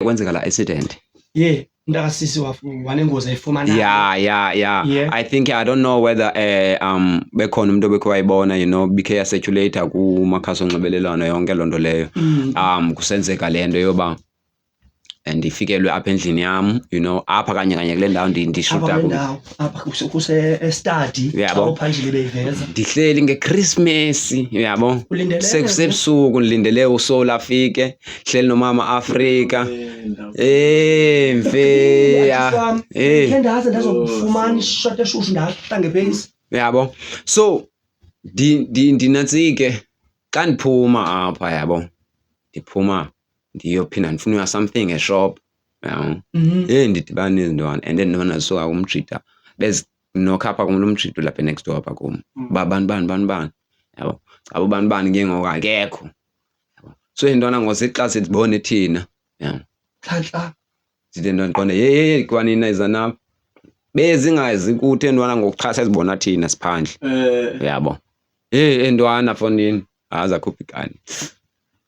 kwenzeka la accident yeah mntakasisi wanengozi ayifumana yeah yeah yeah yeah. i think i don't know whether eh um bekhona umuntu obekho wayibona you know bikhe yaseculator kumakhasi onxibelelwano yonke loo nto leyo mm. um kusenzeka le nto yoba ndifikelwe apha endlini yam you know apha kanye kanye kule ndawo ndishuta apha kuse- kuse estadi Uyabo. xa uphandile beyiveza ndihleli ngechristmas uyabo Ulindeleke sekusebusuku ndilindele usoul afike hleli nomama afrika Eh, mfeya Wam, Eh. khe ndaze ndazokufumana ishot eshushu ndahla ngepeyisi yabo so ndi- ndi- ndinatsike xa ndiphuma apha yabo ndiphuma ndiyophinda ndifuna uya something eshop yabo mhm. eyi ndidibana nezintwana and then ndibona so umjida bezinokha apha kum lo mjida ulapha next door apha kum mm. uba bani bani bani bani yabo caba ubani bani ke ngoku akekho yabo so intwana ngosixa sidibone thina yabo khatla zide ntwana ndiqonde yeyeye kwanina izanapha bezingazi kuthi entwana ngokuxhasa ezibona thina siphandle eh. yabo heyi entwana fondini azakhuphi kani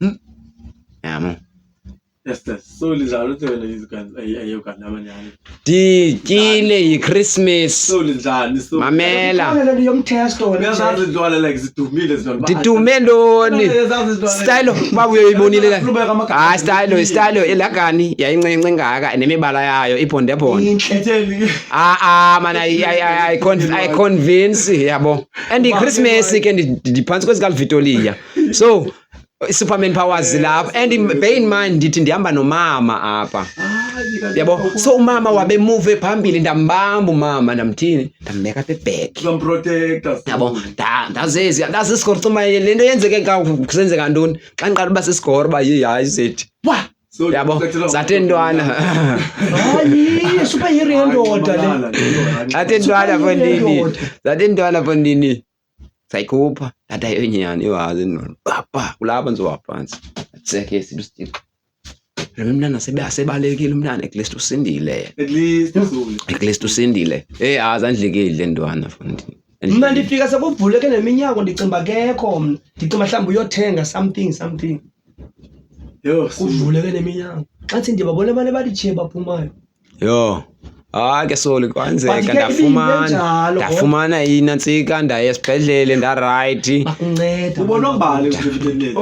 Hmm? Yamo. Esther, so linjalo ke wena eyokanye amanyani. Ndikile yiChristmas. So linjani so. Mamela. Mamela le yomtest wena. Uyazazi intwana like zidumile zona. Ndidume ntoni? Style uba uyoyibonile la. Ah style style elagani yayincinci engaka nemibala yayo ibonde bonde. Inhle. Ah ah man I I I convince yabo. And iChristmas ke ndiphansi kwezika Vitoria. so superman powers eh, lapho and bear in mind ndithi ndihamba nomama apha yabo so umama wabe move phambili ndambamba umama ndamthini ndambeka apha ebhek yabo ndazezi ndazisikhora cuma le nto yenzeke kusenzeka ntoni xa ndiqala uba sisikhora uba yi hayi zethi wa yabo zathi ntwana hayi superhero yendoda le zathi ntwana fondini zathi ntwana fondini sayikhupha ndathi ayo nyani iwazi nona papa kulapha ndizowaphantsi atseke sidusitixo lo mntana asebalekile umntana at least usindile at least usindile eyi azi andlikile le ntwana fundi mna ndifika sekuvuleke neminyango ndicinga kekho mna ndicinga mhlawumbi uyothenga something something kuvuleke neminyango xa thi ndibabona abantu abalitshiye baphumayo Yho. Hayi ke soli kwenzeka But ke ndafumana ibingenjalo, kodwa. ndafumana inantsika ndaya esibhedlele ndarayithi. Bakunceda. Ubona umbali nje emlonyeni.